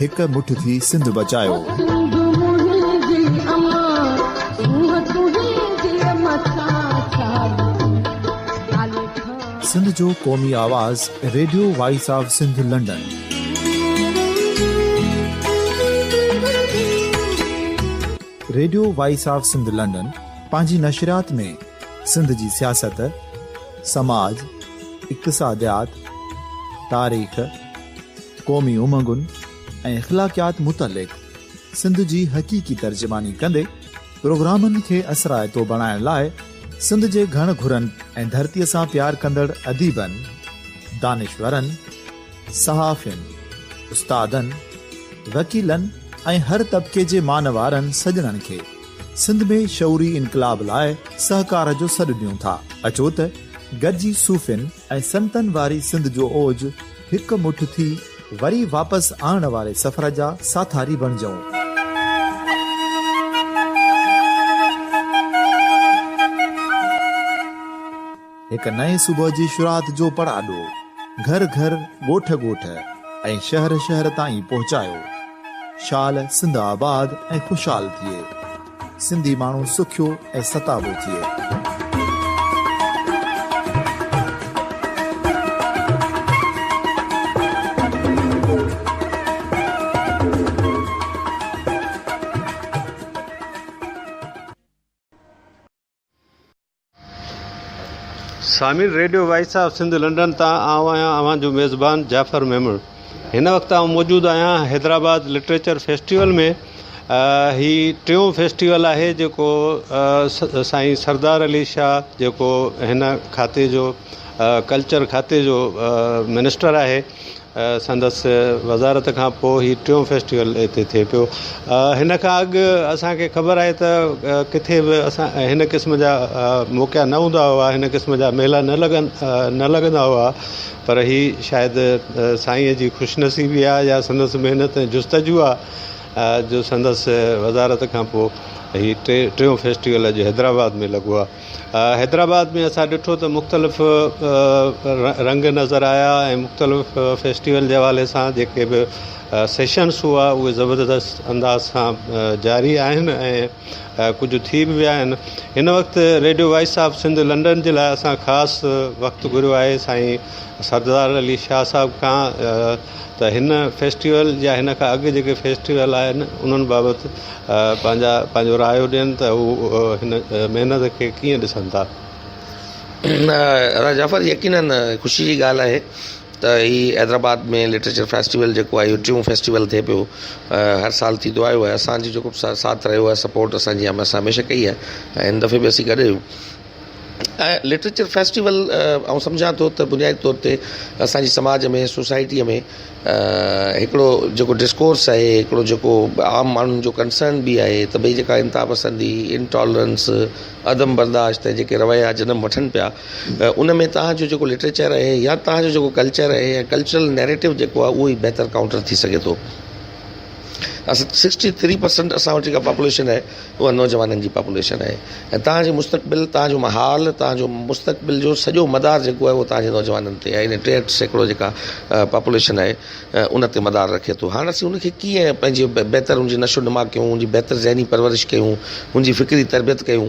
هڪ مٺ ٿي سنڌ بچايوسنڌ جو قومي آواز radio voice of Sindh London radio voice of Sindh London پنهنجي نشريات ۾ سنڌ جي سياست سماج اقتصاديات تاريخ قومي امنگن ۽ اخلاقيات متعلق سنڌ جي حقيقي ترجماني ڪندي پروگرامن کي اثرائتو بڻائڻ لاء سنڌ جي گهڻ گهرن ۽ ڌرتي سان پيار ڪندڙ اديبن، دانشورن، صحافين، استادن، وڪيلن ۽ هر طبقي جي مان وارن سڄڻن کي سنڌ ۾ شعوري انقلاب لاء سهڪار جو سڏ ڏيون ٿا. اچو ته گڏجي صوفين ۽ سنتن واري سنڌ جو اوج هڪ مٺ ٿي وري واپس آڻڻ واري سفر جا ساٿاري بڻجون. هڪ نئين صبح جي شروعات جو پڙاڏو گهر گهر، ڳوٺ ڳوٺ ۽ شهر شهر تائين پهچايو. شال سنڌ آباد ۽ خوشحال ٿئي. سنڌي ماڻهو سکيو ۽ ستابو ٿئي. سامعين radio voice of Sindh London تان آئون آهيان اوهان جو ميزبان جعفر ميمڻ هن وقت آئون موجود آهيان حيدرآباد لٽريچر فيسٽيول ۾ هي ٽيون فيسٽيول آهي جيڪو سائين سردار علي شاهه جيڪو هن کاتي جو ڪلچر کاتي جو منسٽر آهي سندس وزارت کان پوء هي ٽيون فيسٽيول هتي ٿئي پيو. هن کان اڳ اسان کي خبر آهي ته ڪٿي به هن قسم جا موقعا نه هوندا هئا، هن قسم جا ميلا نه لڳندا هئا پر هي شايد سائينء جي خوش نصيبي آهي يا سندس محنت ۽ جستجو آهي جو سندس وزارت کان پوء هي ٽيون فيسٽيول اڄ حيدرآباد ۾ لڳو آهي. حيدرآباد ۾ اسان ڏٺو ته مختلف رنگ نظر آيا ۽ مختلف فيسٽيول جي حوالي سان جيڪي به سيشنس هئا اهي زبردست انداز سان جاري آهن ۽ ڪجهه ٿي به ويا آهن هن وقت radio voice of Sindh London جي لاء اسان خاص وقت گهريو آهي سائين سردار علي شاهه صاحب کان ته هن فيسٽيول يا هن کان اڳ جيڪي فيسٽيول آهن انهن بابت پنهنجا پنهنجو رايو ڏين ته هو هن محنت کي ڪيئن ڏسن ٿا. راء جعفر يقينن خوشي جي ڳالهه آهي ته هي حيدرآباد ۾ لٽريچر فيسٽيول جيڪو آهي اهو ٽيون فيسٽيول ٿئي پيو هر سال ٿيندو آيو آهي اسانجي جيڪو ساٿ رهيو آهي سپورٽ اسانجي هميشه ڪئي آهي ۽ هن دفعي به اسين گڏ آهيون لٽريچر فيسٽيول آئون سمجهان ٿو ته بنيادي طور تي اسان جي سماج ۾ سوسائٽيء ۾ هڪڙو جيڪو ڊسڪورس آهي هڪڙو جيڪو عام ماڻهن جو ڪنسرن به آهي ته ڀئي جيڪا انتها پسندي انٽالرنس عدم برداشت ۽ جيڪي رويا جنم وٺن پيا ان ۾ تهان جو جيڪو لٽريچر آهي يا تهان جو جيڪو ڪلچر آهي يا ڪلچرل نيريٽو جيڪو آهي اهو ئي بهتر ڪائونٽر ٿي سگهي ٿو اسان سڪسٽي ٿري پرسنٽ اسان وٽ جيڪا پاپوليشن آهي اها نوجوانن جي پاپوليشن آهي ۽ تنهنجي مستقبل تنهنجو محال تنهنجو مستقبل جو سڄو مدار جيڪو آهي تنهنجي نوجوانن تي آهي ٽيهٺ سيڪڙو جيڪا پاپوليشن آهي ان تي مدار رکي ٿو هاڻ اسين ان کي ڪيئن پنهنجي بهتر ان جي نشو نما ڪيون ان جي بهتر ذهني پرورش ڪيون ان جي فڪري تربيت ڪيون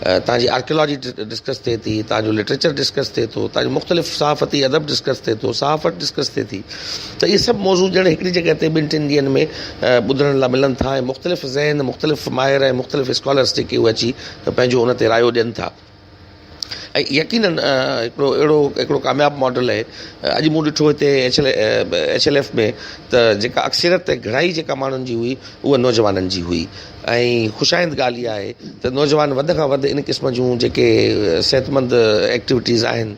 تان جي آرڪيالاجي ڊسڪس ٿئي ٿي، تان جو لٽريچر ڊسڪس ٿئي ٿو، تان جو مختلف صحافتي ادب ڊسڪس ٿئي ٿو، صحافت ڊسڪس ٿئي ٿي ته اهي سڀ موضوع ڄڻ هڪڙي جڳهه تي ٻن ٽن ڏينهن ۾ ٻڌڻ لا ملن ٿا ۽ مختلف ذهن، مختلف ماهر ۽ مختلف اسڪالرس جيڪي اهي اچي پنهنجو ان تي رايو ڏين ٿا ۽ يقينن هڪڙو اهڙو هڪڙو ڪامياب ماڊل اهي اڄ مون ڏٺو هتي H L H L F ۾ ته جيڪا اڪثريت گهڻائي جيڪا ماڻهن جي هئي اها نوجوانن جي هئي ۽ خوشائند ڳالهه اها آهي ته نوجوان وڌ کان وڌ ان قسم جون جيڪي صحتمند ايڪٽيوٽيز آهن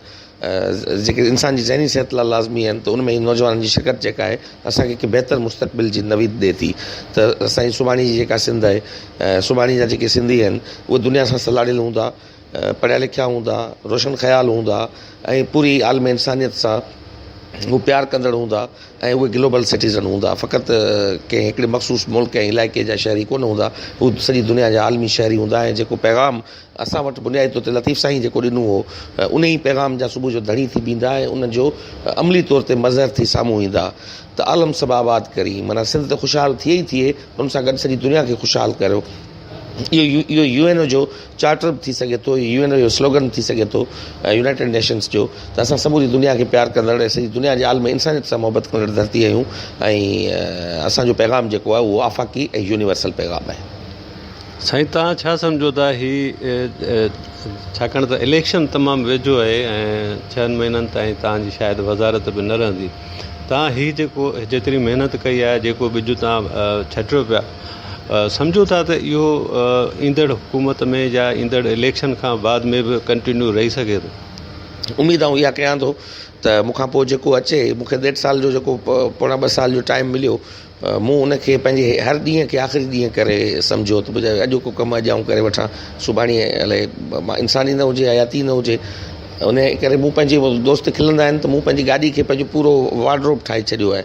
جيڪي انسان جي ذهني صحت لاء لازمي آهن ته ان ۾ نوجوانن جي شرڪت جيڪا آهي اسان کي هڪ بهتر مستقبل جي نويد ڏئي ٿي ته اسان جي سڀاڻي جي جيڪا سنڌ آهي سڀاڻي جا جيڪي سنڌي آهن اهي دنيا سان سلهاڙيل هوندا پڙهيا لکيا هوندا، روشن خيال هوندا ۽ پوري عالم انسانيت سان هو پيار ڪندڙ هوندا ۽ اهي گلوبل سٽيزن هوندا فقط ڪنهن هڪڙي مخصوص ملڪ ۽ علائقي جا شهري ڪونه هوندا هو سڄي دنيا جا عالمي شهري هوندا ۽ جيڪو پيغام اسان وٽ بنيادي طور تي لطيف سائين جيڪو ڏنو هو انهي پيغام جا صبح جو ڌڻي ٿي بيهندا ۽ ان جو عملي طور تي مظهر ٿي سامهون ايندا ته عالم سڀ آباد ڪرين معنيٰ سنڌ ته خوشحال ٿئي ئي ٿئي پر ان سان گڏ سڄي دنيا کي خوشحال ڪريو اهو يو اين او جو چارٽر به ٿي سگهي ٿو، يو اين او جو سلوگن به ٿي سگهي ٿو ۽ يونائيٽيڊ نيشنز جو ته اسان سموري دنيا کي پيار ڪندڙ ۽ سڄي دنيا جي عالم انسانيت سان محبت ڪندڙ ڌرتي آهيون ۽ اسان جو پيغام جيڪو آهي اهو آفاقي ۽ يونيورسل پيغام آهي. سائين توهان ڇا سمجهو ٿا هي ڇاڪاڻ ته اليڪشن تمام ويجهو آهي ۽ ڇهن مهينن تائين توهان جي شايد وزارت به نه رهندي توهان هي جيڪو جيتري محنت ڪئي آهي جيڪو ٻج توهان ڇٽيو پيا سمجهون ٿا ته اهو ايندڙ حڪومت ۾ يا ايندڙ اليڪشن کان بعد ۾ به ڪنٽينيو رهي سگهي ٿو. اميد آئون اها ڪيان ٿو ته مون کان پوء جيڪو اچي، مون کي ڏيڍ سال جو جيڪو پوڻا ٻه سال جو ٽائيم مليو، مون ان کي پنهنجي هر ڏينهن کي آخري ڏينهن ڪري سمجهيو ته بجاء اڄوڪو ڪم اڄ آئون ڪري وٺان، سڀاڻي الائي مان انسان ئي نه هجي، حياتي ئي نه هجي. انهيء ڪري مون پنهنجي دوست کلندا آهن ته مون پنهنجي گاڏي کي پنهنجو پورو وارڊروب ٺاهي ڇڏيو آهي.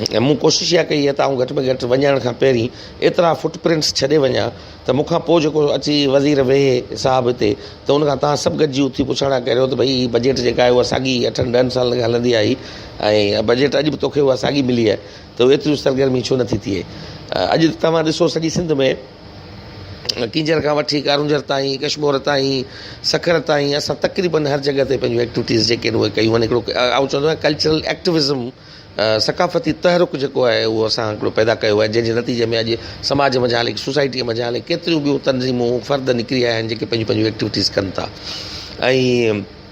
۽ مون ڪوشش اها ڪئي ته آئون گهٽ ۾ گهٽ وڃڻ کان پهرين ايترا فٽ پرنٽس ڇڏي وڃان ته مون کان پوء جيڪو اچي وزير ويهي صاحب هتي ته ان کان توهان سڀ گڏجي اٿي پڇڻ ها ڪريو ته ڀئي هي بجيٽ جيڪا آهي اها ساڳي اٺن ڏهن سالن کان هلندي آئي ۽ بجيٽ اڄ به توکي اها ساڳي ملي آهي ته ايتريون سرگرميون ڇو نٿي ٿئي اڄ توهان ڏسو سڄي سنڌ ۾ ڪينجهر کان وٺي ڪارونجهر تائين، ڪشمور تائين، سکر تائين اسان تقريبن هر جڳهه تي پنهنجون ايڪٽويٽيز جيڪي آهن اهي ڪيون آهن هڪڙو آئون چوندو آهيان ڪلچرل ايڪٽويزم ثقافتي تحرڪ جيڪو آهي اهو اسان هڪڙو پيدا ڪيو آهي جنهن جي نتيجي ۾ اڄ سماج منجهان هلي سوسائٽي منجهان هلي ڪيتريون ٻيون تنظيمون فرد نڪري آيا آهن جيڪي پنهنجون پنهنجون ايڪٽويٽيز ڪن ٿا ۽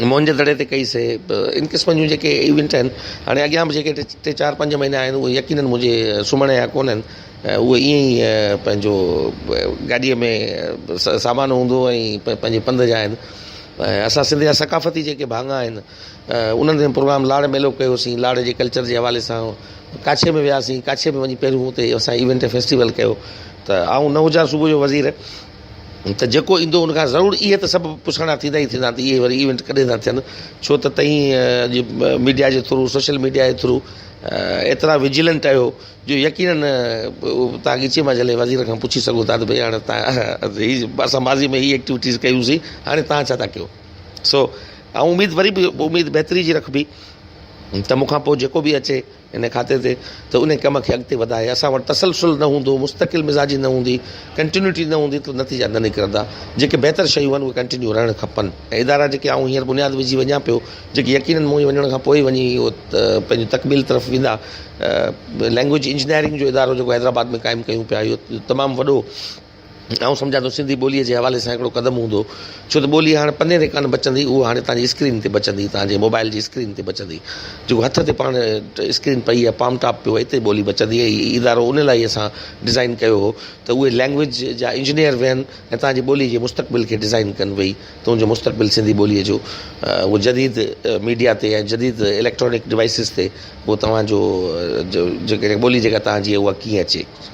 موهن جي دڙي تي ڪئي سي ان قسم جون جيڪي ايونٽ آهن هاڻي اڳيان به جيڪي ٽي چار پنج مهينا آهن اهي يقينن منهنجي سمهڻ جا ڪونه آهن اهي ائين ئي پنهنجو گاڏيء ۾ سامان هوندو ۽ پنهنجي پنڌ جا آهن ۽ اسان سنڌ جا ثقافتي جيڪي ڀاڱا آهن انهن تي پروگرام لاڙ ميلو ڪيوسين لاڙ جي ڪلچر جي حوالي سان ڪاڇي ۾ وياسين ڪاڇي ۾ وڃي پهريون اتي اسان ايونٽ فيسٽيول ڪيو ته آئون نه هجان صوبه جو وزير ته جيڪو ايندو ان کان ضرور اهي ته سڀ پڇاڻا ٿيندا ئي ٿيندا ته اهي وري ايونٽ ڪڏهن ٿا ٿين ڇو ته تئين اڄ ميڊيا جي ٿرو سوشل ميڊيا جي ٿرو ايترا وجيلنٽ آهيو جو يقينن تان ڳچي مان جلي وزير کان پڇي سگهو ٿا ته ڀئي هاڻي تان اسان ماضي ۾ هي ايڪٽيوٽيز ڪيوسين هاڻي تان ڇا ٿا ڪيو سو اميد وري به اميد بهتري جي رکبي ته مون کان پوء جيڪو به اچي ان کاتي تي ته انهي ڪم کي اڳتي وڌائي، اسان وٽ تسلسل نه هوندو، مستقل مزاجي نه هوندي، ڪنٽينيوٽي نه هوندي ته نتيجا نه نڪرندا، جيڪي بهتر شيون آهن اهي ڪنٽينيو رهڻ کپن ۽ ادارا جيڪي آئون هينئر بنياد وجهي وڃان پيو جيڪي يقينن مون جي وڃڻ کان پوء ئي وڃي پنهنجي تڪميل طرف ويندا لينگويج انجنيئرنگ جو ادارو جيڪو حيدرآباد ۾ قائم ڪيون پيا اهو تمام وڏو آئون سمجهان ٿو سنڌي ٻوليء جي حوالي سان هڪڙو قدم هوندو ڇو ته ٻولي هاڻ پني تي ڪانه بچندي اهو هاڻي تنهنجي اسڪرين تي بچندي تنهنجي موبائل جي اسڪرين تي بچندي جيڪو هٿ تي پاڻ اسڪرين پئي آهي پام ٽاپ پيو اتي ٻولي بچندي هي ادارو ان لاء اسان ڊزائين ڪيو هو ته اهي لينگويج جا انجنيئر ويهن ۽ تنهنجي ٻولي جي مستقبل کي ڊزائين ڪن ويهي تنهنجو مستقبل سنڌي ٻوليء جو اهو جديد ميڊيا تي ۽ جديد اليڪٽرانڪ ڊوائسز تي اهو توهان جو جيڪا ٻولي جيڪا تنهنجي اها ڪيئن اچي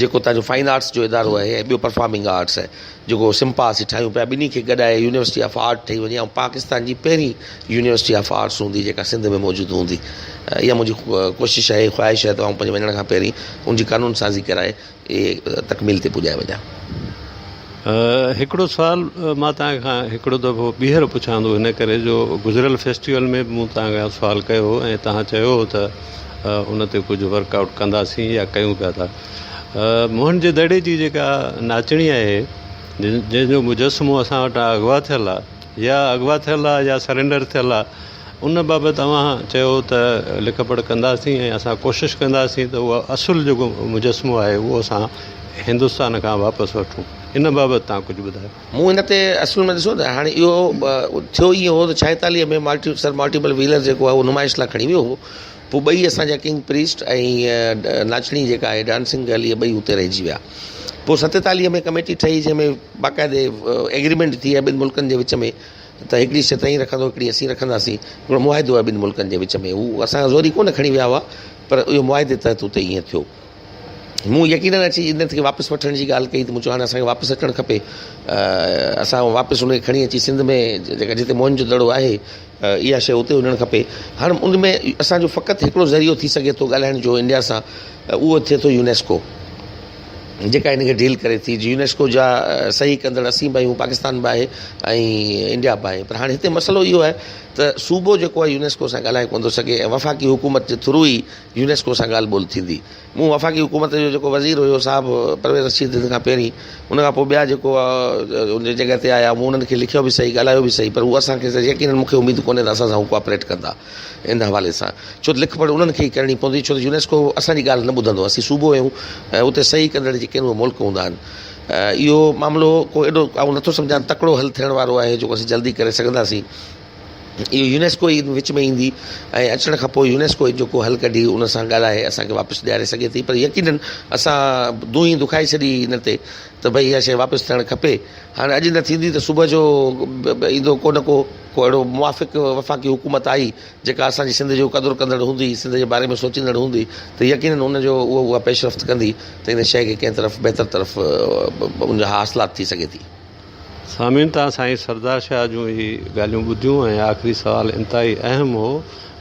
جيڪو اتان جو فائن آرٽس جو ادارو آهي ۽ ٻيو پرفارمنگ آرٽس آهي جيڪو سمپا اسين ٺاهيون پيا ٻنهي کي گڏائي يونيورسٽي آف آرٽ ٺهي وڃي ۽ پاڪستان جي پهرين يونيورسٽي آف آرٽس هوندي جيڪا سنڌ ۾ موجود هوندي اها منهنجي ڪوشش آهي خواهش آهي ته آئون پنهنجي وڃڻ کان پهرين ان جي قانون سازي ڪرائي تڪميل تي پڄائي وڃان هڪڙو سوال مان توهان کان هڪڙو دفعو ٻيهر پڇان ٿو ان ڪري جو گذريل فيسٽيول ۾ به مون توهان کان سوال ڪيو هو ۽ توهان چيو هو ته ان تي ڪجهه ورڪ آئوٽ ڪنداسين يا ڪيون پيا ٿا موهن جي دڙي جي جيڪا ناچڻي آهي جنهن جو مجسمو اسان وٽ اغوا ٿيل آهي يا اغوا ٿيل آهي يا سرينڊر ٿيل آهي ان بابت اوهان چيو ته لک پڙهه ڪنداسين ۽ اسان ڪوشش ڪنداسين ته اهو اصل جيڪو مجسمو آهي اهو اسان هندستان کان واپس وٺون. ان بابت توهان ڪجهه ٻڌايو. مون هن تي اصل ۾ ڏسو ته هاڻي اهو ٿيو ائين هو ته ڇائيتاليهه ۾ مالٽي سر مالٽيپل ويلر جيڪو آهي اهو نمائش لاء کڻي ويو هو پوء ٻئي اسان جا ڪنگ پريسٽ ۽ ناچڻي جيڪا آهي ڊانسنگ گرل اهي ٻئي اتي رهجي ويا پوء ستيتاليهه ۾ ڪميٽي ٺهي جنهن ۾ باقاعدي ايگريمينٽ ٿي ٻن ملڪن جي وچ ۾ ته هڪڙي شيء تئين رکندو هڪڙي اسين رکنداسين هڪڙو معاهدو آهي ٻن ملڪن جي وچ ۾ هو اسان کان زوري ڪونه کڻي ويا هئا پر اهو معاهدي تحت اتي ائين ٿيو مون يقينن اچي انهن کي واپس وٺڻ جي ڳالهه ڪئي ته مون چيو هاڻي اسان کي واپس اچڻ کپي اسان واپس ان کي کڻي اچي سنڌ ۾ جيڪا جتي موهن جو دڙو آهي اها شيء اتي هجڻ کپي هاڻي ان ۾ اسان جو فقط هڪڙو ذريعو ٿي سگهي ٿو ڳالهائڻ جو انڊيا سان اهو ٿئي ٿو يونيسڪو جيڪا ان کي ڊيل ڪري ٿي جي يونيسڪو جا صحيح ڪندڙ اسين به آهيون پاڪستان به آهي ۽ انڊيا به آهي پر هاڻي هتي مسئلو اهو آهي ته صوبو جيڪو آهي يونيسڪو سان ڳالهائي ڪونه ٿو سگهي ۽ وفاقي حڪومت جي ٿرو ئي يونيسڪو سان ڳالهه ٻولهه ٿيندي مون وفاقي حڪومت جو جيڪو وزير هيو صاحب پرويز رشيد ان کان پهرين ان کان پوء ٻيا جيڪو ان جي جڳهه تي آيا مون انهن کي لکيو به صحيح ڳالهايو به صحيح پر هو اسان کي يقينن مون کي اميد ڪونهي ته اسان سان هو ڪوآپريٽ ڪندا ان حوالي سان ڇو ته لک پڙهه انهن کي ئي ڪرڻي پوندي ڇو ته يونيسڪو اسان جي ڳالهه نه ٻڌندو اسين صوبو آهيون ۽ اتي صحيح ڪندڙ جيڪي آهن اهي ملڪ هوندا آهن اهو معاملو ڪو ايڏو آئون نٿو سمجهان تڪڙو حل ٿيڻ وارو آهي جيڪو اسين جلدي ڪري سگهنداسين اهو يونيسڪو ئي وچ ۾ ايندي ۽ اچڻ کان پوء يونيسڪو ئي جيڪو حل ڪڍي ان سان ڳالهائي اسان کي واپس ڏياري سگهي ٿي پر يقينن اسان دونهين دکائي ڇڏي ان تي ته ڀئي اها شيء واپس ٿيڻ کپي هاڻي اڄ نه ٿيندي ته صبح جو ايندو ڪو نه ڪو ڪو اهڙو موافق وفاقي حڪومت آئي جيڪا اسان جي سنڌ جو قدر ڪندڙ هوندي سنڌ جي باري ۾ سوچيندڙ هوندي ته يقينن ان جو اها پيشرفت ڪندي ته ان شيء کي ڪنهن طرف بهتر طرف ان جا حاصلات ٿي سگهي ٿي. سامعين تان سائين سردار شاهه جون هي ڳالهيون ٻڌيون ۽ آخري سوال انتهائي اهم هو.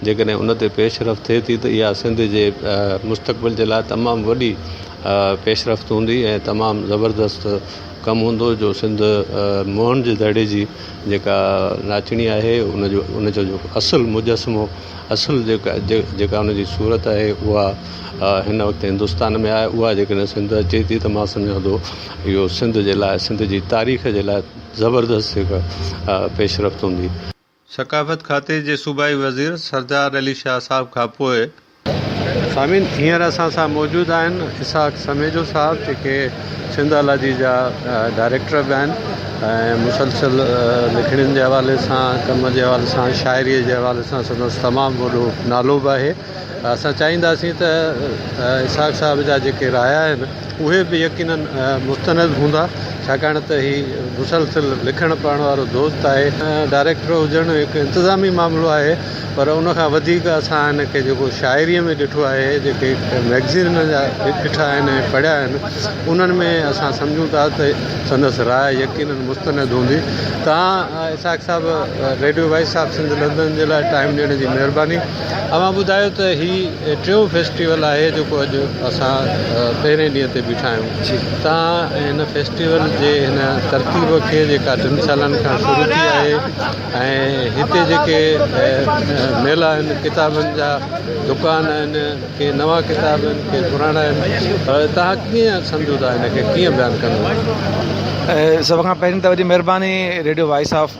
جيڪڏهن ان تي پيش رفت ٿئي ٿي ته اها سنڌ جي مستقبل جي لاء تمام وڏي پيش رفت هوندي ۽ تمام زبردست ڪم هوندو جو سنڌ موهن جي دڙي جي جيڪا ناچڻي آهي ان جو ان جو جيڪو اصل مجسمو اصل جيڪا جيڪا ان جي صورت آهي اها هن وقت هندستان ۾ آهي اها جيڪڏهن سنڌ اچي ٿي ته مان سمجهان ٿو اهو سنڌ جي لاء سنڌ جي تاريخ جي لاء زبردست هڪ پيش رفت هوندي. ثقافت کاتي جي صوبائي وزير سردار علي شاهه صاحب کانپوء. سامعين هينئر اسان سان موجود آهن اسحاق سميجو صاحب جيڪي سنڌالاجي جا ڊائريڪٽر به آهن ۽ مسلسل لکڻين جي حوالي سان ڪم جي حوالي سان شاعري جي حوالي سان سندس تمام وڏو نالو به آهي اسان چاهينداسين ته اسحاق صاحب جا جيڪي رايا آهن اهي به يقيناً مستند هوندا ڇاڪاڻ ته هي مسلسل لکڻ پڙهڻ وارو دوست آهي. ڊائريڪٽر هجڻ هڪ انتظامي معاملو آهي پر ان کان وڌيڪ اسان هن کي جيڪو شاعريء ۾ ڏٺو آهي جيڪي مئگزين هن جا ڏٺا آهن ۽ پڙهيا آهن انهن ۾ اسان سمجهون ٿا ته سندس راء يقيناً مستند هوندي تان Ishaq Sahib radio voice of Sindh London جي لاء ٽائيم ڏيڻ جي مهرباني. اوهان ٻڌايو ته هي ٽيون فيسٽيول آهي جيڪو اڄ اسان پهرين ڏينهن تي بيٺا آهيون تان هن فيسٽيول جي هن ترتيب کي جيڪا ٽن سالن کان شروع ٿي آهي ۽ هتي جيڪي ميلا آهن ڪتابن جا دڪان آهن ڪي نوان ڪتاب آهن ڪي پراڻا آهن پر تهان ڪيئن سمجهو ٿا هن کي ڪيئن بيان ڪندو سڀ کان پهرين ته وڏي مهرباني ريڊيو وائس آف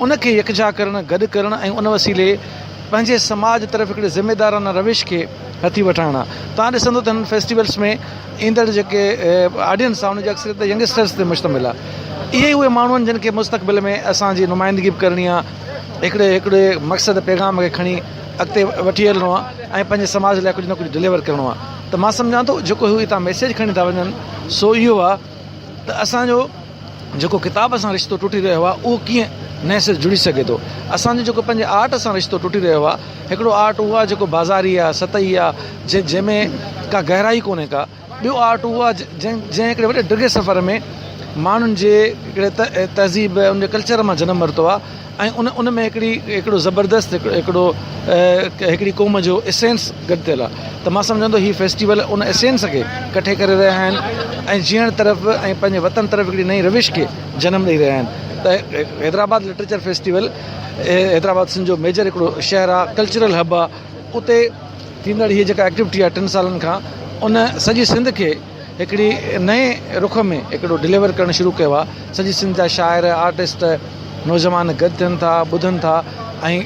ان کي يڪجا ڪرڻ، گڏ ڪرڻ ۽ ان وسيلي پنهنجي سماج طرف هڪڙي ذميدارانه روش کي هٿي وٺائڻ آ. توهان ڏسندو ته هنن فيسٽيولز ۾ ايندڙ جيڪي آڊينس آ ان جي اڪثريت ته ينگسٽرز تي مشتمل آ. اهي ئي اهي ماڻهو آهن جن کي مستقبل ۾ اسان جي نمائندگي به ڪرڻي آ. هڪڙي هڪڙي مقصد پيغام کي کڻي اڳتي وٺي هلڻو آ ۽ پنهنجي سماج لاء ڪجهه نه ڪجهه ڊليور ڪرڻو آ ته مان سمجهان ٿو جيڪو هي اتان ميسيج کڻي ٿا وڃن سو اهو آ ته اسان جو جيڪو ڪتاب سان رشتو ٽٽي رهيو آهي اهو ڪيئن نئين سر جڙي سگهي ٿو. اسان جو جيڪو پنهنجي آرٽ سان رشتو ٽٽي رهيو آهي، هڪڙو آرٽ اهو آهي جيڪو بازاري آهي، سطحي آهي، جنهن جنهن ۾ ڪا گهرائي ڪونهي ڪا، ٻيو آرٽ اهو آهي جنهن جنهن هڪڙي وڏي ڊگهي سفر ۾ ماڻهن جي هڪڙي تهذيب ان جي ڪلچر مان جنم ورتو آهي. ۽ ان ان ۾ هڪڙي هڪڙو زبردست هڪڙو هڪڙو هڪڙي قوم جو اسينس گڏ ٿيل آهي ته مان سمجهان ٿو هي فيسٽيول ان اسينس کي ڪٺي ڪري رهيا آهن ۽ جيئڻ طرف ۽ پنهنجي وطن طرف هڪڙي نئين روش کي جنم ڏئي رهيا آهن ته حيدرآباد لٽريچر فيسٽيول حيدرآباد سنڌ جو ميجر هڪڙو شهر آهي ڪلچرل هب آهي اتي ٿيندڙ هي جيڪا ايڪٽيوٽي آهي ٽن سالن کان ان سڄي سنڌ کي هڪڙي نئين رخ ۾ هڪڙو ڊليور ڪرڻ شروع ڪيو آهي سڄي سنڌ جا شاعر آرٽسٽ نوجوان گڏ ٿين ٿا ٻڌن ٿا ۽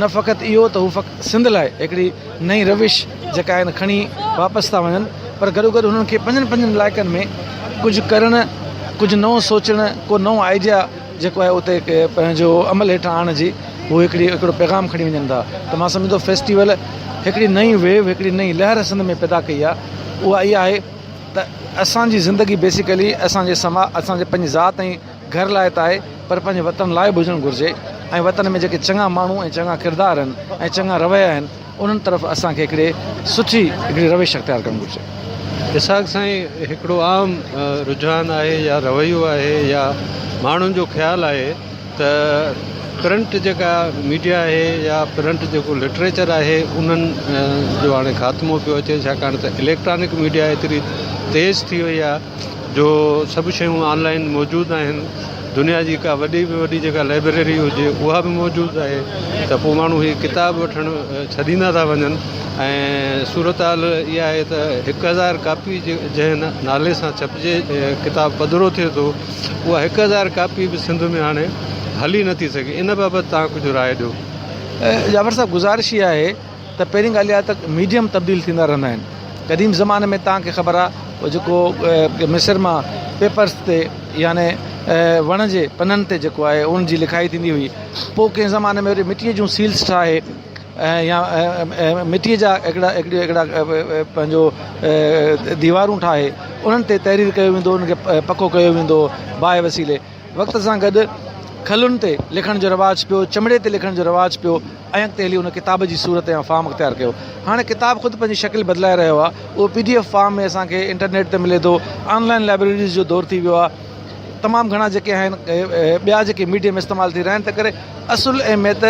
نه فقط اهو ته هو سنڌ لاء هڪڙي نئين روش جيڪا آهي کڻي واپس ٿا وڃن پر گڏو گڏ هنن کي پنهنجن پنهنجن علائقن ۾ ڪجهه ڪرڻ ڪجهه نئون سوچڻ ڪو نئون آئيڊيا جيڪو آهي اتي پنهنجو عمل هيٺان آڻڻ جي هو هڪڙي هڪڙو پيغام کڻي وڃن ٿا ته مان سمجهان ٿو فيسٽيول هڪڙي نئين ويو هڪڙي نئين لهر سنڌ ۾ پيدا ڪئي آهي اها اها آهي ته اسان جي زندگي بيسيڪلي اسان جي سما اسان جي پنهنجي ذات ۽ گهر لاء ته آهي پر پنهنجي وطن لاء به هجڻ گهرجي ۽ وطن ۾ جيڪي چڱا ماڻهو ۽ چڱا ڪردار آهن ۽ چڱا رويا آهن انهن طرف اسان کي هڪڙي سٺي هڪڙي روش اختيار ڪرڻ گهرجي. اسحاق سائين هڪڙو عام رجحان آهي يا رويو آهي يا ماڻهن جو خيال آهي ته پرنٽ جيڪا ميڊيا آهي يا پرنٽ جيڪو لٽريچر آهي انهن جو هاڻي خاتمو پيو اچي ڇاڪاڻ ته اليڪٽرانڪ ميڊيا ايتري تيز ٿي وئي آهي جو سڀ شيون آن لائين موجود آهن دنيا جي ڪا وڏي به وڏي جيڪا لائبريري هجي اها به موجود آهي ته پوء ماڻهو هي ڪتاب وٺڻ ڇڏيندا ٿا وڃن ۽ صورتحال اها آهي ته هڪ هزار ڪاپي جنهن نالي سان ڇپجي ڪتاب پڌرو ٿئي ٿو اها هڪ هزار ڪاپي به سنڌ ۾ هاڻي هلي نٿي سگهي ان بابت توهان ڪجهه راء ڏيو. جعفر صاحب گذارش اها آهي ته پهرين ڳالهه اها ته ميڊيم تبديل ٿيندا رهندا آهن قديم زماني ۾ تان کي خبر آهي او جيڪو مصر مان پيپرس تي يعني وڻ جي پنن تي جيڪو آهي ان جي لکائي ٿيندي هئي پوء ڪنهن زماني ۾ وري مٽيء جون سيلس ٺاهي ۽ يا مٽيء جا هڪڙا هڪڙا پنهنجو ديوارون ٺاهي انهن تي تحرير ڪيو ويندو هو ان کي پڪو ڪيو ويندو هو باهه وسيلي وقت سان گڏ کلن تي لکڻ جو رواج پيو، چمڙي تي لکڻ جو رواج پيو ۽ اڳتي هلي ان ڪتاب جي صورت يا فارم اختيار ڪيو. هاڻي ڪتاب خود پنهنجي شڪل بدلائي رهيو آهي، اهو پي ڊي ايف فارم ۾ اسان کي انٽرنيٽ تي ملي ٿو، آن لائن لائبريريز جو دور ٿي ويو آهي، تمام گهڻا جيڪي آهن ٻيا جيڪي ميڊيم استعمال ٿي رهيا آهن، تنهنڪري اصل اهميت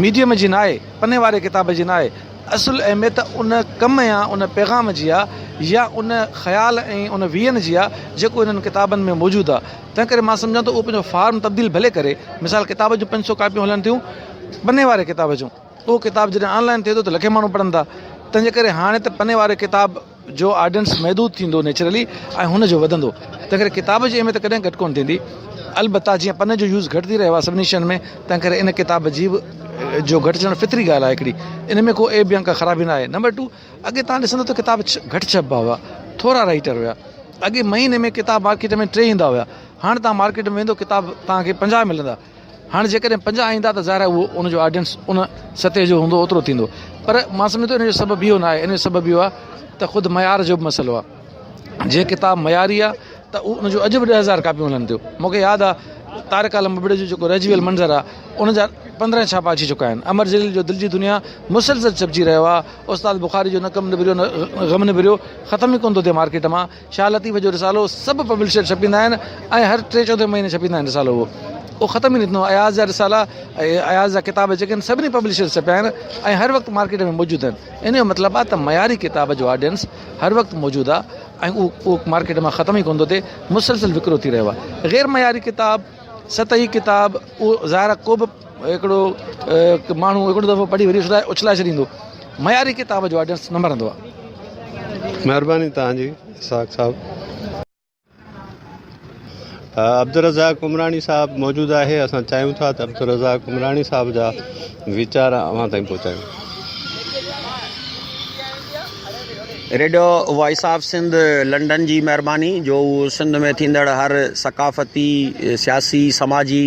ميڊيم جي ناهي، پني واري ڪتاب جي ناهي، اصل اهميت ان ڪم يا ان پيغام جي آ يا ان خيال ۽ ان ويزن جي آ جيڪو انهن ڪتابن ۾ موجود آ تنهن ڪري مان سمجهان ٿو اهو پنهنجو فارم تبديل ڀلي ڪري مثال ڪتاب جون پنج سو ڪاپيون هلن ٿيون پني واري ڪتاب جون اهو ڪتاب جڏهن آن لائن ٿئي ٿو ته لکين ماڻهو پڙهن ٿا تنهنجي ڪري هاڻي ته پني واري ڪتاب جو آڊينس محدود ٿيندو نيچرلي ۽ هن جو وڌندو تنهن ڪري ڪتاب جي اهميت ڪڏهن گهٽ ڪونه ٿيندي البته جيئن پنن جو يوز گهٽ ٿي رهيو آهي سڀني شين ۾ تنهن ڪري ان ڪتاب جي به جو گهٽجڻ فطري ڳالهه آهي هڪڙي ان ۾ ڪو عيب يا ڪا خرابي ناهي نمبر ٽو اڳي تان ڏسندو ته ڪتاب گهٽ ڇپبا هئا ٿورا رائيٽر هيا اڳي مهيني ۾ ڪتاب مارڪيٽ ۾ ٽي ايندا هيا هاڻ تان مارڪيٽ ۾ ويندو ڪتاب تان کي پنجاهه ملندا هاڻي جيڪڏهن پنجاهه ايندا ته ظاهر آهي اهو ان جو آڊينس ان سطح جو هوندو اوترو ٿيندو پر مان سمجهان ٿو ان جو سبب اهو ناهي ان جو سبب اهو آهي ته خود معيار جو به مسئلو آهي جي ڪتاب معياري آهي ته اهو ان جو اڄ به ڏهه هزار ڪاپيون هلن ٿيون مونکي ياد آهي طارق عالم ابڙي جو جيڪو رهجي ويل منظر آهي ان جا پندرهن ڇاپا اچي چڪا آهن امر جليل جو دل جي دنيا مسلسل ڇپجي رهيو آهي استاد بخاري جو نه ڪم نبريو نه غم نبريو ختم ئي ڪونه ٿو ٿئي مارڪيٽ مان شاهه لطيف جو رسالو سڀ پبلشر ڇپيندا آهن ۽ هر ٽي چوٿين مهيني ڇپيندا آهن رسالو اهو اهو ختم ئي نه ٿيندو اياز جا رسالا ۽ اياز جا ڪتاب جيڪي آهن سڀني پبلشر ڇپيا آهن ۽ هر وقت مارڪيٽ ۾ موجود آهن ان جو مطلب آهي ته معياري ڪتاب جو آڊينس هر وقت موجود آهي ۽ اهو اهو مارڪيٽ مان ختم ئي ڪونه ٿو ٿئي مسلسل وڪرو ٿي رهيو آهي غير معياري ڪتاب سطحي ڪتاب اهو ظاهر آهي ڪو به هڪڙو ماڻهو هڪڙو دفعو پڙهي وري اڇلائي ڇڏيندو معياري ڪتاب جو آڊينس نه مرندو آهي مهرباني توهان جي اسحاق صاحب عبدالرزاق عمراڻي صاحب موجود آهي اسان چاهيون ٿا ته عبدالرزاق عمراڻي صاحب جا ويچار اوهان تائين پهچايون radio voice of Sindh London جي مهرباني جو سنڌ ۾ ٿيندڙ هر ثقافتي سياسي سماجي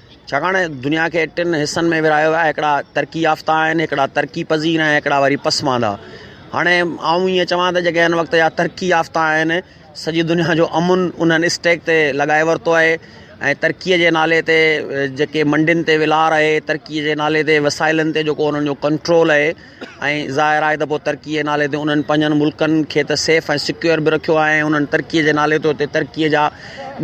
ڇاڪاڻ دنيا کي ٽن حصن ۾ ورهايو ويو آهي هڪڙا ترقي يافته آهن هڪڙا ترقي پذير آهن هڪڙا وري پسماندا هاڻي آئون ائين چوان ته جيڪي هن وقت جا ترقي يافته آهن سڄي دنيا جو امن انهن اسٽيڪ تي لڳائي ورتو آهي ۽ ترقي جي نالي تي جيڪي منڊين تي ولار آهي ترقي جي نالي تي وسائلن تي جيڪو انهن جو ڪنٽرول آهي ۽ ظاهر آهي ته پوء ترقيء جي نالي تي انهن پنهنجن ملڪن کي ته سيف ۽ سيڪيور به رکيو آهي ۽ انهن ترقيء جي نالي تي اتي ترقيء جا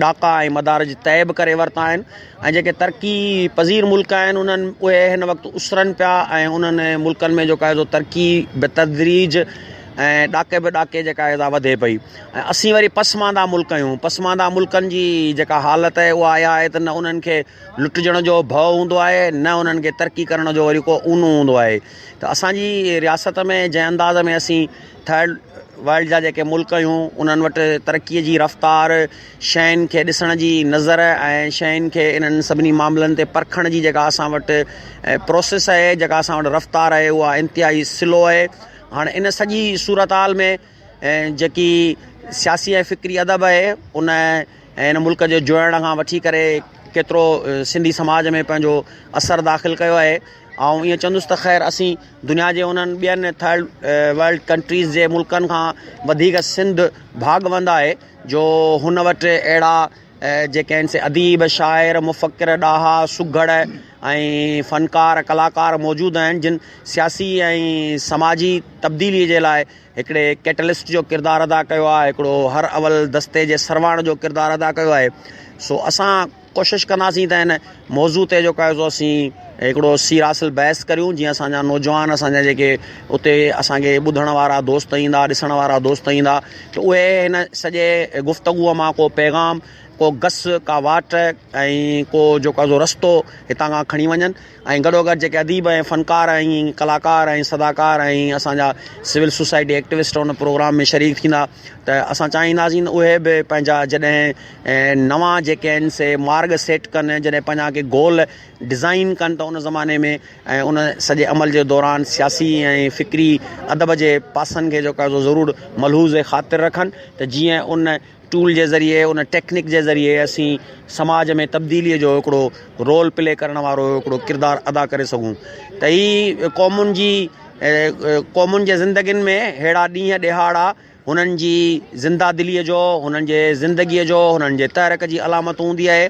ڏاڪا ۽ مدارج طئي به ڪري ورتا آهن ۽ جيڪي ترقي پذير ملڪ آهن انهن اهي هن وقت اسرن پيا ۽ انهن ملڪن ۾ جيڪا آهي سو ترقي بتدريج ۽ ڏاڪي به ڏاڪي جيڪا آهي سا وڌي پئي ۽ اسين وري پسمانده ملڪ آهيون پسمانده ملڪن جي جيڪا حالت آهي اها اها آهي ته نه انهن کي لٽجڻ جو ڀؤ هوندو آهي نه انهن کي ترقي ڪرڻ جو وري ڪو اونو هوندو آهي ته اسانجي رياست ۾ جنهن انداز ۾ اسين ٿرڊ ورلڊ جا جيڪي ملڪ آهيون انهن وٽ ترقي جي رفتار شين کي ڏسڻ جي نظر ۽ شين کي انهن سڀني معاملن تي پرکڻ جي جيڪا اسان وٽ پروسيس آهي جيڪا اسان وٽ رفتار آهي اها انتهائي سلو آهي هاڻ ان سڄي صورتحال ۾ ۽ جيڪي سياسي ۽ فڪري ادب آهي ان ۽ هن ملڪ جو جوڙڻ کان وٺي ڪري ڪيترو سنڌي سماج ۾ پنهنجو اثر داخل ڪيو آهي آئون ائين چوندس ته خير اسين دنيا جي انهن ٻين ٿرڊ ورلڊ ڪنٽريز جي ملڪن کان وڌيڪ سنڌ ڀاڳوند آهي جو هن وٽ اهڙا جيڪي آهن سي اديب شاعر مفڪر ڏاها سگهڙ ۽ فنڪار ڪلاڪار موجود آهن جن سياسي ۽ سماجي تبديلي جي لاء هڪڙي ڪيٽلسٽ جو ڪردار ادا ڪيو آهي هڪڙو هر اول دستي جي سرواڻ جو ڪردار ادا ڪيو آهي سو اسان ڪوشش ڪنداسين ته هن موضوع تي جو ڪاهي سو اسين هڪڙو سير حاصل بحث ڪريون جيئن اسان جا نوجوان اسان جا جيڪي اتي اسان کي ٻڌڻ وارا دوست ايندا ڏسڻ وارا دوست ايندا ته اهي هن سڄي گفتگو مان ڪو پيغام ڪو گس ڪا واٽ ۽ ڪو جو ڪا رستو هتان کان کڻي وڃن ۽ گڏوگڏ جيڪي اديب ۽ فنڪار ۽ ڪلاڪار ۽ صداڪار ۽ اسان جا سول سوسائٽي ايڪٽوسٽ ان پروگرام ۾ شريڪ ٿيندا ته اسان چاهينداسين اهي به پنهنجا جڏهن نوان جيڪي آهن سي مارگ سيٽ ڪن جڏهن پنهنجا ڪي گول ڊزائن ڪن ته ان زماني ۾ ۽ ان سڄي عمل جي دوران سياسي ۽ فڪري ادب جي پاسن کي جيڪو آهي سو ضرور ملحوظ خاطر رکن ته جيئن ان ٽول جي ذريعي ان ٽيڪنڪ جي ذريعي اسين سماج ۾ تبديلي جو هڪڙو رول پلي ڪرڻ وارو هڪڙو ڪردار ادا ڪري سگهون ته هي قومن جي قومن جي زندگين ۾ ههڙا ڏينهن ڏهاڙا هنن جي زنده دلي جو هنن جي زندگي جو هنن جي تحرڪ جي علامت هوندي آهي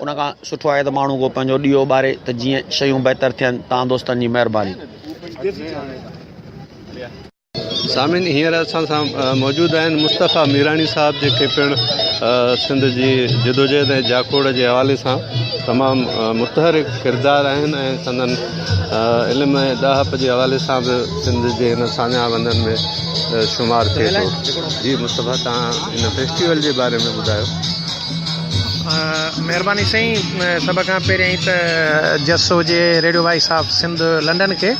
ان کان سٺو آهي ته ماڻهو ڪو پنهنجو ڏيئو ٻاري ته جيئن شيون بهتر ٿين توهان دوستن جي مهرباني. سامعين هينئر اسان سان موجود آهن مصطفيٰ ميراڻي صاحب جيڪي پڻ سنڌ جي جدوجهد ۽ جاکوڙ جي حوالي سان تمام متحرڪ ڪردار آهن ۽ سندن علم ۽ ڏاهپ جي حوالي سان به سنڌ جي هن ساڃاهه وندن ۾ شمار ٿئي ٿو جي مصطفيٰ تهان هن فيسٽيول جي باري ۾ ٻڌايو مھرباني سائين سڀ کان پهريائين ته جس هجي radio voice of Sindh London کي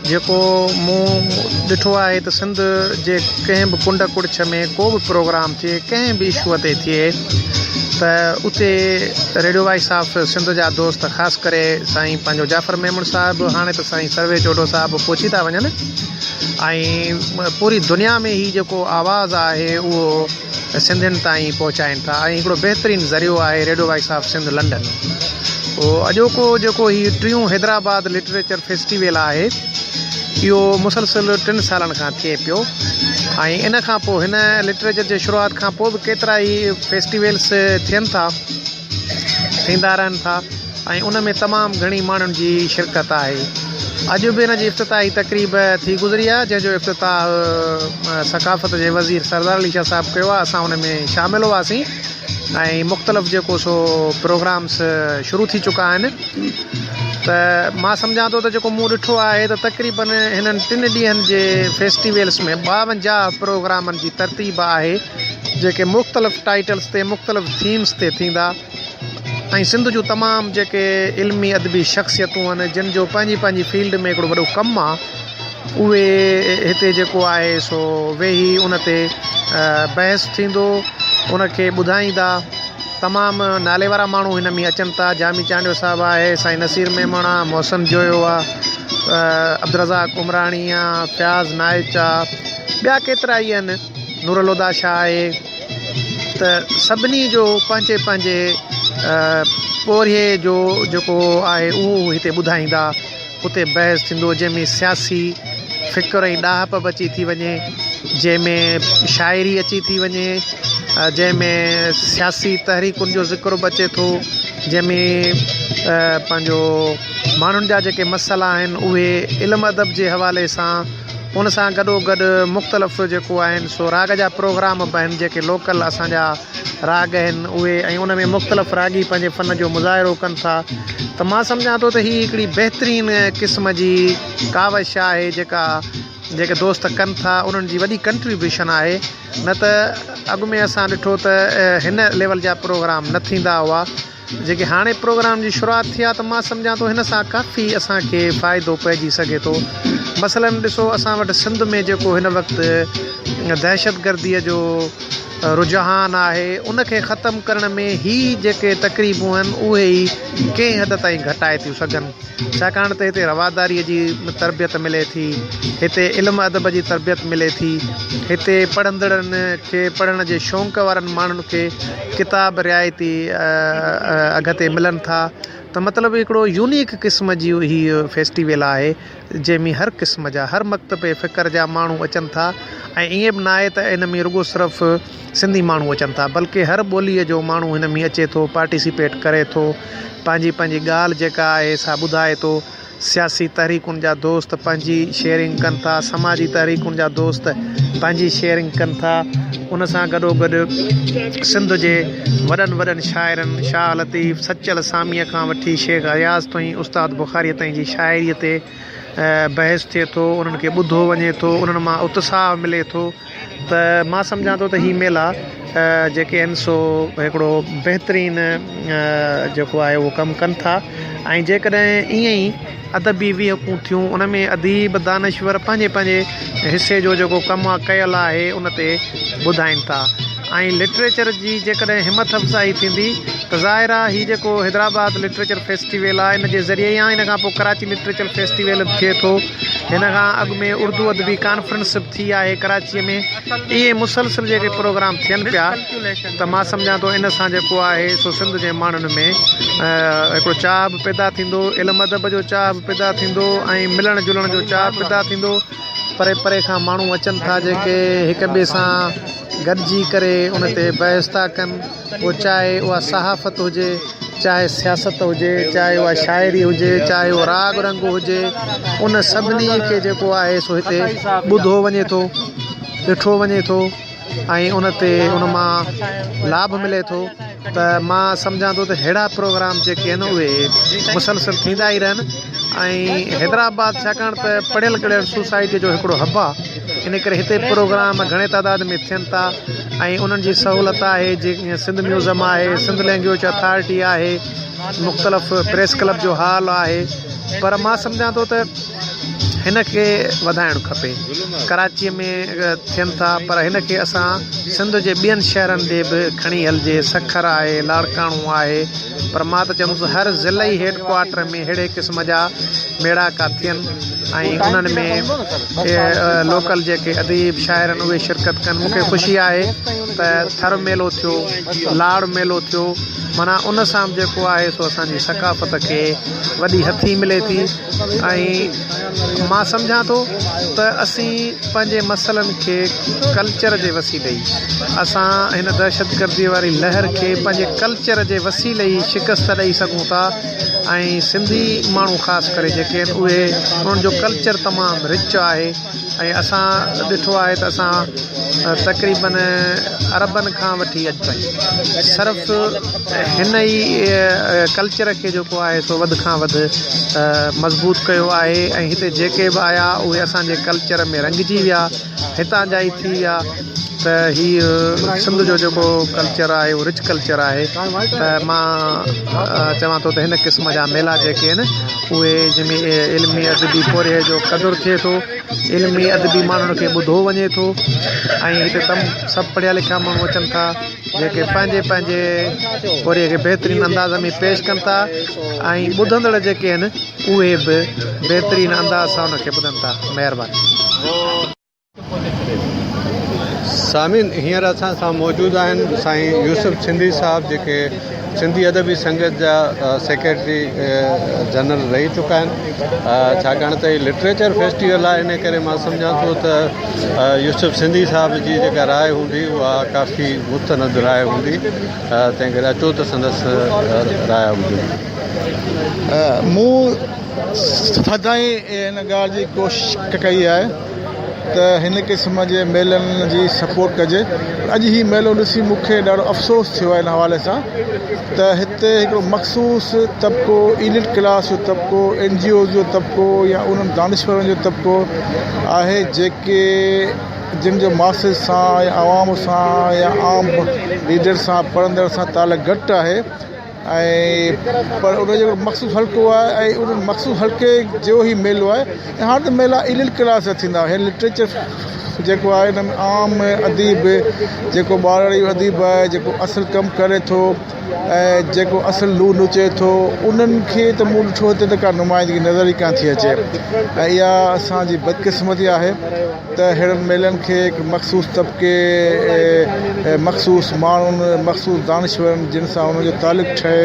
جيڪو مون ڏٺو آهي ته سنڌ جي ڪنهن به ڪنڊ ڪڙڇ ۾ ڪو به پروگرام ٿئي ڪنهن به اشوء تي ٿئي ته اتي ريڊيو وائس آف سنڌ جا دوست خاص ڪري سائين پنهنجو جعفر ميمڻ صاحب هاڻي ته سائين سروي جوڊو صاحب پهچي ٿا وڃن ۽ پوري دنيا ۾ هي جيڪو آواز آهي اهو سنڌين تائين پهچائين ٿا ۽ هڪڙو بهترين ذريعو آهي radio voice of Sindh London اڄوڪو جيڪو هي ٽيون حيدرآباد لٽريچر فيسٽيول آهي اهو مسلسل ٽن سالن کان ٿئي پيو ۽ ان کان پوء هن لٽريچر جي شروعات کان پوء به ڪيترا ئي فيسٽيولس ٿين ٿا ٿيندا رهن ٿا ۽ ان ۾ تمام گهڻي ماڻهن جي شرڪت آهي اڄ به ان جي افتتاحي تقريب ٿي گذري آهي جنهن جو افتتاح ثقافت جي وزير سردار علي شاهه صاحب ڪيو آهي اسان ان ۾ شامل هئاسين ۽ مختلف جيڪو سو پروگرامس شروع ٿي چڪا آهن ته مان سمجهان ٿو ته جيڪو مون ڏٺو آهي ته تقريبن هنن ٽن ڏينهن جي فيسٽيولس ۾ ٻاونجاهه پروگرامن جي ترتيب آهي جيڪي مختلف ٽائيٽلس تي مختلف ٿيمس تي ٿيندا ۽ سنڌ جون تمام جيڪي علمي ادبي شخصيتون آهن جن جو پنهنجي پنهنجي فيلڊ ۾ هڪڙو وڏو ڪم آهي اهي هتي جيڪو آهي سو ويهي ان تي بحث ٿيندو ان کي ٻڌائيندا تمام نالي وارا ماڻهو هن ۾ اچن ٿا جامي چانڊيو صاحب آهي سائين نصير ميمڻ آهي محسن جويو آهي عبدالرزاق عمراڻي آهي فياض نائچ آهي ٻيا ڪيترا ئي آهن نور الهديٰ شاهه آهي ته سڀني جو پنهنجي پنهنجي پورهيي جو جيڪو آهي اهو هو هتي ٻڌائيندا. اتي بحث ٿيندو جنهن ۾ سياسي فڪر ۽ ڏاهپ به اچي ٿي وڃي، جنهن ۾ شاعري اچي ٿي وڃي، جنهن ۾ سياسي تحريڪن جو ذڪر به اچي ٿو، جنهن ۾ پنهنجو ماڻهن جا جيڪي مسئلا آهن اهي علم ادب جي حوالي سان ان سان گڏوگڏ مختلف جيڪو آهن سو راڳ جا پروگرام به آهن جيڪي لوڪل اسانجا راڳ آهن اهي ۽ ان ۾ مختلف راڳي پنهنجي فن جو مظاهرو ڪن ٿا ته مان سمجهان ٿو ته هي هڪڙي بهترين قسم جي ڪاوش آهي جيڪا جيڪي دوست ڪن ٿا انهن جي وڏي ڪنٽريبيوشن آهي نه ته اڳ ۾ اسان ڏٺو ته هن ليول جا پروگرام نه ٿيندا هئا جيڪي هاڻي پروگرام جي شروعات ٿي آهي ته مان سمجهان ٿو هن سان ڪافي اسان کي فائدو پئجي سگهي ٿو مثلاً ڏسو اسان وٽ سنڌ ۾ جيڪو هن وقت دهشت گرديء جو رجحان آهي ان کي ختم ڪرڻ ۾ هي جيڪي تقريبون آهن اهي ئي ڪنهن حد تائين گهٽائي ٿيون سگهن ڇاڪاڻ ته هتي رواداريء جي تربيت ملي ٿي، هتي علم ادب جي تربيت ملي ٿي، هتي پڙهندڙن کي پڙهڻ جي شونق وارن ماڻهن کي ڪتاب رعايتي اگهه تي ملن ٿا ته مطلب هڪڙو يونيڪ قسم جي هي فيسٽيول آهي جنهن ۾ هر قسم جا هر مڪتب فڪر جا ماڻهو اچن ٿا ۽ ائين به ناهي ته ان ۾ رڳو صرف سنڌي ماڻهو اچن ٿا بلڪه هر ٻولي جو ماڻهو هن ۾ اچي ٿو پارٽيسپيٽ ڪري ٿو پنهنجي پنهنجي ڳالهه جيڪا آهي سا ٻڌائي ٿو سياسي تحريڪن جا دوست پنهنجي شيئرنگ ڪن ٿا سماجي تحريڪن جا دوست پنهنجي شيئرنگ ڪن ٿا ان سان گڏو گڏ سنڌ جي وڏن وڏن شاعرن شاهه لطيف سچل ساميء کان وٺي شيخ اياز توئين استاد بخاريء تائين جي شاعريء تي بحث ٿئي ٿو انهن کي ٻڌو وڃي ٿو انهن مان اتساهه ملي ٿو ته مان سمجهان ٿو ته هي ميلا جيڪي آهن سو هڪڙو بهترين جيڪو آهي اهو ڪم ڪن ٿا ۽ جيڪڏهن ائين ئي ادبي ويهڪون ٿيون ان ۾ اديب دانشور پنهنجي پنهنجي حصي جو جيڪو ڪم آ ڪيل آهي ان تي ٻڌائين ٿا ۽ لٽريچر جي جيڪڏهن همٿ افزائي ٿيندي ته ظاهر آ هي جيڪو حيدرآباد لٽريچر فيسٽيول آ ان جي ذريعي يا ان کان پوء ڪراچي لٽريچر فيسٽيول به ٿئي ٿو هن کان اڳ ۾ اردو ادبي ڪانفرنس ٿي آهي ڪراچيء ۾ ائين مسلسل جيڪي پروگرام ٿين پيا ته مان سمجهان ٿو ان سان جيڪو آهي سو سنڌ جي ماڻهن ۾ هڪڙو چاهه به پيدا ٿيندو علم ادب جو چاهه به پيدا ٿيندو ۽ ملڻ جلڻ جو چاهه پيدا ٿيندو پري پري کان ماڻهو اچن ٿا جيڪي هڪ ٻئي سان گڏجي ڪري ان تي بحث ٿا ڪن پوء چاهي اها صحافت هجي، چاهي سياست هجي، چاهي اها شاعري هجي، چاهي اهو راڳ رنگ هجي، ان سڀني کي جيڪو آهي سو هتي ٻڌو وڃي ٿو، ڏٺو وڃي ٿو ۽ ان تي ان مان لاڀ ملي ٿو ته مان سمجهان ٿو ته ههڙا پروگرام جيڪي آهن اهي مسلسل ٿيندا ئي رهن ۽ حيدرآباد ڇاڪاڻ ته پڙهيل ڳڙهيل سوسائٽي جو هڪڙو هب آهي ان ڪري هتي پروگرام گهڻي تعداد ۾ ٿين ٿا ۽ انهن جي سهولت آهي جيئن سنڌ ميوزم آهي سنڌ لينگويج اٿارٽي آهي مختلف پريس ڪلب جو هال آهي پر مان سمجهان ٿو ته هن کي وڌائڻ کپي ڪراچيء ۾ ٿين ٿا پر هن کي اسان سنڌ جي ٻين شهرن ڏي به کڻي هلجي سکر آهي لاڙڪاڻو آهي پر مان ته چوندس هر ضلعي هيڊ ڪوارٽر ۾ ههڙي قسم جا ميڙاڪا ٿين ۽ انهن ۾ لوڪل جيڪي اديب شاعر آهن اهي شرڪت ڪن مون کي خوشي آهي ته ٿر ميلو ٿيو لاڙ ميلو ٿيو معنيٰ ان سان به جيڪو آهي سو اسان جي ثقافت کي وڏي هٿي ملي ٿي ۽ مان سمجهان ٿو ته اسين پنهنجي مسئلن کي ڪلچر جي وسيلي ئي اسان هن دهشتگردي واري لهر کي پنهنجي ڪلچر جي وسيلي ئي شڪست ڏئي سگهون ٿا ۽ سنڌي ماڻهو خاص ڪري جيڪي آهن اهي انهن جو ڪلچر تمام رچ آهي ۽ اسان ڏٺو آهي ته اسان تقريبن عربن کان وٺي اڄ تائين صرف هن ئي ڪلچر کي جيڪو آهي سو وڌ کان وڌ مضبوط ڪيو آهي ۽ هتي جيڪي به آيا اهي اسانجي ڪلچر ۾ رنگجي ويا هتان جا ئي ٿي ويا ته هي سنڌ جو جيڪو ڪلچر آهي اهو رچ ڪلچر آهي ته مان چوان ٿو ته هن قسم جا ميلا جيڪي آهن اهي جن ۾ علمي ادبي پورهيي جو قدر ٿئي ٿو علمي ادبي ماڻهن کي ٻڌو وڃي ٿو ۽ هتي تم سڀ پڙهيا لکيا ماڻهو اچن ٿا جيڪي پنهنجي پنهنجي پورهيي کي بهترين انداز ۾ پيش ڪن ٿا ۽ ٻڌندڙ جيڪي آهن اهي به بهترين انداز سان ان کي ٻڌن ٿا مهرباني سامعين هينئر اسان سان موجود آهن سائين يوسف سنڌي صاحب جيڪي سنڌي ادبي سنگت جا سيڪريٽري جنرل رهي چڪا آهن ڇاڪاڻ ته هي لٽريچر فيسٽيول آهي ان ڪري مان سمجهان ٿو ته يوسف سنڌي صاحب جي جيڪا راء هوندي اها ڪافي مستند راء هوندي تنهن ڪري اچو ته سندس راء ٻڌون مون سدائين ان ڳالهه جي ڪوشش ڪئي آهي ته هن قسم جي ميلن جي سپورٽ ڪجي پر اڄ هي ميلو ڏسي مون کي ڏاڍو افسوس ٿيو آهي ان حوالي سان ته هتي هڪڙو مخصوص طبقو ايلٽ ڪلاس جو طبقو اين جي اوز جو طبقو يا انهن دانشورن جو طبقو آهي جيڪي جن جو ماسز سان يا عوام سان يا عام ريڊر سان پڙهندڙ سان تعلق گهٽ آهي ۽ پر ان جو مخصوص حلقو آهي ۽ ان مخصوص حلقي جو هي ميلو آهي ۽ هاڻ ته ميلا ايليٽ ڪلاس جا ٿيندا آهن لٽريچر جيڪو آهي ان ۾ عام اديب جيڪو ٻاراڙي اديب آهي جيڪو اصل ڪم ڪري ٿو ۽ جيڪو اصل لوء نچي ٿو انهن کي ته مون ڏٺو هتي ته ڪا نمائندگي نظر ئي ڪانه ٿي اچي ۽ اها اسان جي بدقسمتي آهي ته اهڙن ميلن کي هڪ مخصوص طبقي، مخصوص ماڻهن، مخصوص دانشورن جن سان انهن جو تعلق ٺهي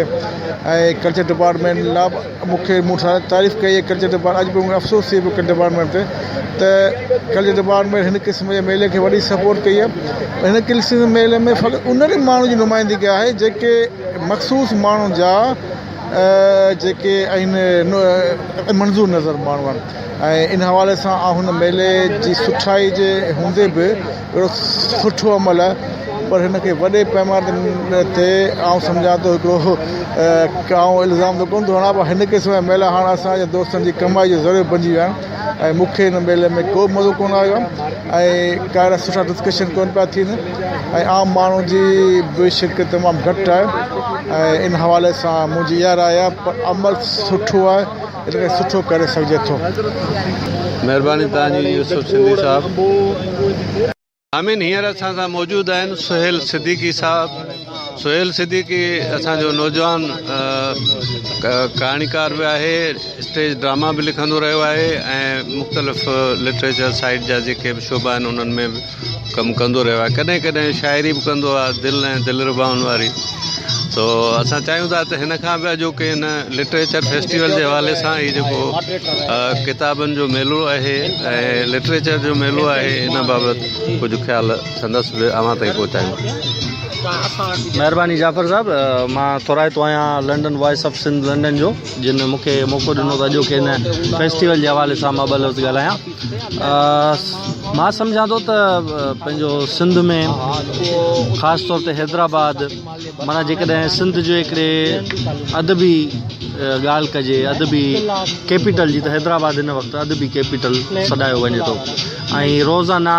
۽ ڪلچر ڊپارٽمينٽ لا مون کي مون ساري تعريف ڪئي هي ڪلچر ڊپارٽمينٽ اڄ به مون کي افسوس ٿئي پيو ڪلچر ڊپارٽمينٽ تي ته ڪلچر ڊپارٽمينٽ هن قسم جي ميلي کي وڏي سپورٽ ڪئي هي هن قسم جي ميلي ۾ فقط انهن ئي ماڻهن جي نمائندگي آهي جيڪي مخصوص ماڻهن جا جيڪي آهن منظور نظر ماڻهو آهن ۽ ان حوالي سان آء هن ميلي جي سٺائي جي هوندي به اهڙو سٺو عمل پر هن کي وڏي پيماني تي آء سمجهان ٿو هڪڙو ڪا آء الزام ته ڪونه ٿو هڻان پر هن قسم جا ميلا هاڻ اسان جي دوستن جي ڪمائي جو ذريعو بنجي ويا آهن ۽ مون کي هن ميلي ۾ ڪو به مزو ڪونه آيو آهي ۽ ڪا اهڙا سٺا ڊسڪشن ڪونه پيا ٿين ۽ عام ماڻهو جي به شرڪت تمام گهٽ آهي ۽ ان حوالي سان منهنجي اها راء آهي پر عمل سٺو آهي ان کي سٺو ڪري سگهجي ٿو. مهرباني توهان جي يوسف سنڌي صاحب. آمين هينئر اسان سان موجود آهن سهيل صديقي صاحب سهيل صديقي اسان جو نوجوان ڪهاڻيڪار به آهي اسٽيج ڊراما به لکندو رهيو آهي ۽ مختلف لٽريچر سائيڊ جا جيڪي به شعبا آهن انهن ۾ ڪم ڪندو رهيو آهي ڪڏهن ڪڏهن شاعري به ڪندو آهي دل ۽ دلربائن واري تو اسان چاهيون ٿا ته هن کان به اڄوڪي هن لٽريچر فيسٽيول جي حوالي سان هي جيڪو ڪتابن جو ميلو آهي ۽ لٽريچر جو ميلو آهي ان بابت ڪجهه خيال سندس به اوهان تائين پهچايون مهرباني جعفر صاحب مان ٿورائتو آهيان London voice of Sindh London جو جن مونکي موقعو ڏنو ته اڄوڪي هن فيسٽيول جي حوالي سان مان ٻه لفظ ڳالهايان مان سمجهان ٿو ته پنهنجو سنڌ ۾ خاص طور تي حيدرآباد معنيٰ جيڪڏهن سنڌ جو هڪڙي ادبي ڳالهه ڪجي ادبي ڪيپيٽل جي ته حيدرآباد هن وقت ادبي ڪيپيٽل سڏايو وڃي ٿو ۽ روزانه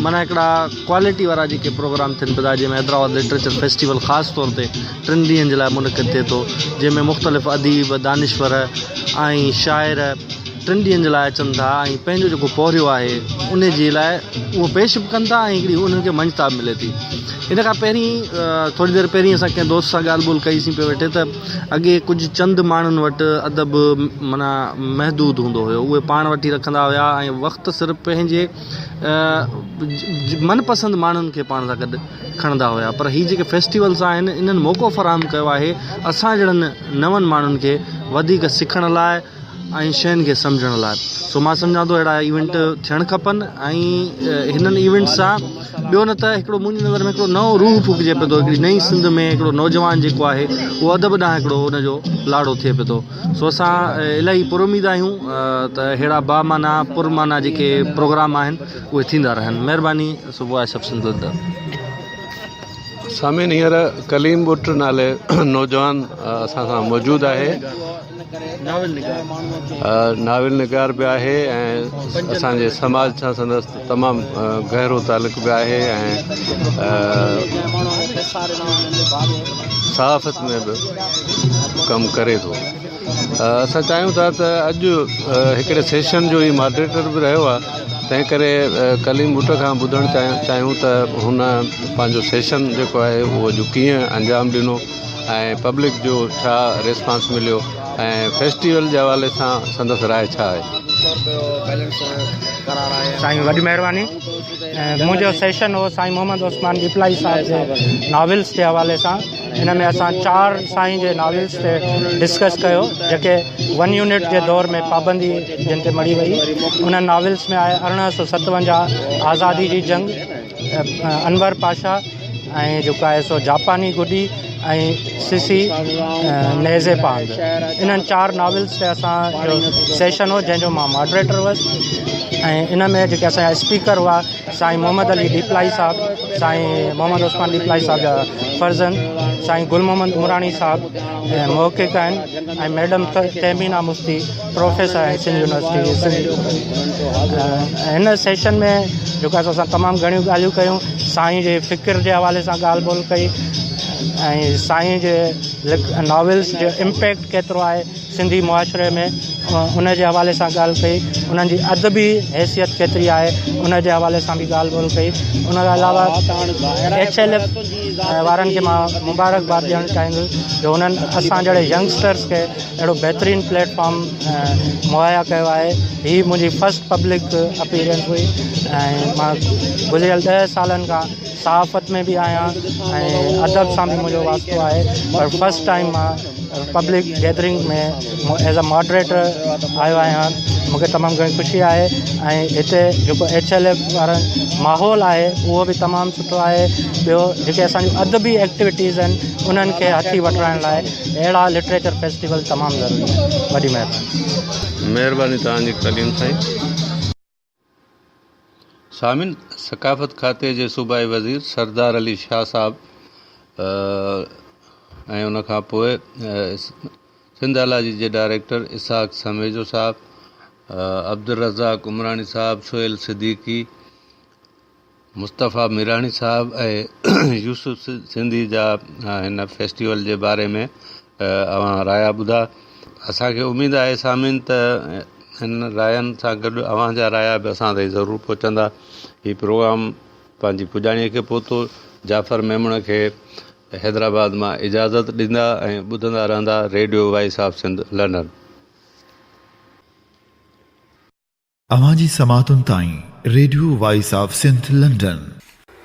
معنيٰ هڪڙا ڪوالٽي وارا جيڪي پروگرام ٿين پيدا جنهن ۾ حيدرآباد لٽريچر فيسٽيول خاص طور تي ٽن ڏينهن جي لاء منعقد ٿئي ٿو جنهن ۾ مختلف اديب دانشور ۽ شاعر ٽن ڏينهن جي لاء اچن ٿا ۽ پنهنجو جيڪو پورهيو آهي ان جي لاء اهو پيش به ڪن ٿا ۽ هڪڙي انهن کي مڃتا به ملي ٿي ان کان پهرين ٿوري دير پهرين اسان ڪنهن دوست سان ڳالهه ٻولهه ڪئي سين پيو ويٺي ته اڳي ڪجهه چند ماڻهن وٽ ادب معنيٰ محدود هوندو هيو اهي پاڻ وٽ ئي رکندا هيا ۽ وقت صرف پنهنجي من پسند ماڻهن کي پاڻ سان گڏ کڻندا هيا پر هي جيڪي فيسٽيولس آهن انهن موقعو فراهم ڪيو آهي اسان جهڙن نون ماڻهن کي وڌيڪ سکڻ لاء ۽ شين کي سمجهڻ لاء سو مان سمجهان ٿو اهڙا ايونٽ ٿيڻ کپن ۽ هنن ايونٽ سان ٻيو نه ته هڪڙو منهنجي نظر ۾ هڪڙو نئون روح ڦوڪجي پيو ٿو هڪڙي نئين سنڌ ۾ هڪڙو نوجوان جيڪو آهي اهو ادب ڏانهن هڪڙو ان جو لاڙو ٿئي پيو ٿو سو اسان الاهي پر اميد آهيون ته ههڙا با معنيٰ پر معنيٰ جيڪي پروگرام آهن اهي ٿيندا رهن مهرباني سو وائس آف سنڌ لنڊن. سامعين هينئر ڪليم ٻٽ نالي نوجوان اسان سان موجود آهي ناول نگار به آهي ۽ اسان جي سماج سان سندس تمام گهرو تعلق به آهي صحافت ۾ به ڪم ڪري ٿو اسان چاهيون ٿا ته اڄ هڪڙي سيشن جو هي ماڊريٽر به رهيو آهي تنهن ڪري ڪليم بوٽ کان ٻڌڻ چاهيون ته هن پنهنجو سيشن جيڪو آهي اهو اڄ ڪيئن انجام ڏنو ۽ پبلڪ جو ڇا ريسپانس مليو ۽ فيسٽيول جي حوالي سان سندس راء ڇا آهي. سائين وڏي مهرباني منهنجو سيشن هو سائين محمد عثمان ڏيپلائي صاحب جي ناولس جي حوالي سان ان ۾ اسان چار سائين جي ناولس تي ڊسڪس ڪيو جيڪي ون يونٽ جي دور ۾ پابندي جن تي مڙي وئي انهن ناولس ۾ آهي ارڙهن سو ستونجاهه آزادي جي جنگ انور پاشا ۽ جيڪو آهي سو جاپاني گڊي ۽ سسي نيزي پاند انهن چار ناولس تي اسان جو سيشن هو جنهن جو مان ماڊريٽر هوس ۽ ان ۾ جيڪي اسان اسپيڪر هئا سائين محمد علي ڏيپلائي صاحب سائين محمد عثمان ڏيپلائي صاحب جا فرزند سائين گل محمد عمراڻي صاحب محقق آهن ۽ ميڊم تهمينا مفتي پروفيسر آهن سنڌ يونيورسٽي جي سنڌ هن سيشن ۾ جيڪو اسان سان تمام گهڻيون ڳالهيون ڪيون سائين جي فڪر جي حوالي سان ڳالهه ٻولهه ڪئي ۽ سائين جي ناولس جو امپيڪٽ ڪيترو آهي سنڌي معاشري ۾ ان جي حوالي سان ڳالهه ڪئي انهن جي ادبي حيثيت ڪيتري آهي ان جي حوالي سان به ڳالهه ٻولهه ڪئي ان کان علاوه ايڇ ايل ايف وارن کي مبارڪباد ڏيڻ چاهيندس جو انهن اسان جهڙي ينگسٽرس کي اهڙو بهترين پليٽ فارم مهيا ڪيو آهي هي منهنجي فرسٽ پبلڪ اپيرنس هئي ۽ مان گذريل ڏهه سالن کان صحافت ۾ به آهيان ۽ ادب سان به منهنجو واسطو آهي پر فرسٽ ٽائم مان public gathering ۾ as a moderator آيو آهيان مونکي تمام گهڻي خوشي آهي ۽ هتي جيڪو ايڇ ايل ايف وارا ماحول آهي اهو به تمام سٺو آهي ٻيو جيڪي اسان جون ادبي ايڪٽويٽيز آهن انهن کي هٿي وٺرائڻ لاء اهڙا لٽريچر فيسٽيول تمام ضروري آهن وڏي مهرباني. مهرباني توهان جي تعليم سائين. سامعين! ثقافت کاتي جي صوبائي وزير سردار علي شاهه صاحب ۽ ان کان پوء سنڌ الاجي جي ڊائريڪٽر اسحاق سميجو صاحب، عبدالرزاق عمراڻي صاحب، سهيل صديقي، مصطفيٰ ميراڻي صاحب ۽ يوسف سنڌي جا هن فيسٽيول جي باري ۾ اوهان رايا ٻڌا اسانکي اميد آهي سامعين ته هن راين سان گڏ اوهان جا رايا به اسان تائين ضرور پهچندا هي پروگرام پنهنجي پڄاڻي کي پهتو جعفر ميمڻ کي حيدرآباد مان اجازت ڏيندا ۽ ٻڌندا رهندا radio voice of Sindh London. اوهان جي سماعتن تائين radio voice of Sindh London.